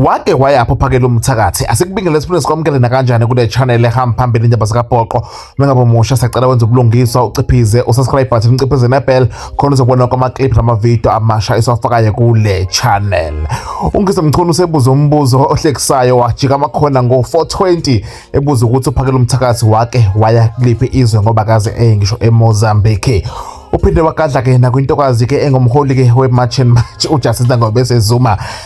wake wayapho phakela umthakathi asikubingele esiphinde sikwamukele nakanjani kule channel ehamba phambili indaba zikabhoqo mengabe musha sacela wenza ubulungiswa uciphize usubscribe button uciphize nebell khona uzobona kwamaclip namavidiyo amasha esiwafakayo kule channel ungise mchunu usebuza umbuzo ohlekisayo wajika amakhona ngo-420 ebuza ukuthi uphakela umthakathi wake waya kuliphi izwe ngoba kaze eye ngisho emozambique uphinde wagadla-ke nakwintokazi-ke engumholi-ke we-march and march ujustice nangobese zuma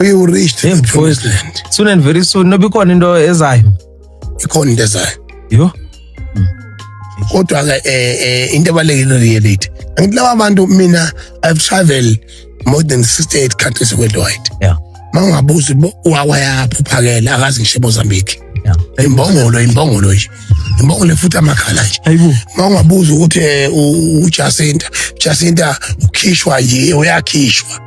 We will reach the Yebo, promised land. soon and very soon noba ikhona into ezayo Ikhona into ezayo. yo Kodwa ke eh eh into ebalekile reality. Angithi laba bantu mina I've traveled more than 68 countries worldwide. Yeah. Mangabuza uba uwawa yaphi uphakele akazi ngisho Mozambique. Yeah. Imbongolo imbongolo nje. Imbongolo futhi amakhala nje. Hayibo. Mangabuza ukuthi eh, u- u Jacinta, Jacinta ukhishwa nje uyakhishwa.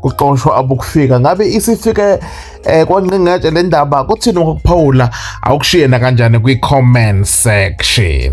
kuxoshwa abokufika ngabe isifike eh kwanqingatshe le ndaba kuthini ngokuphawula awukushiye nakanjani kwi-comment section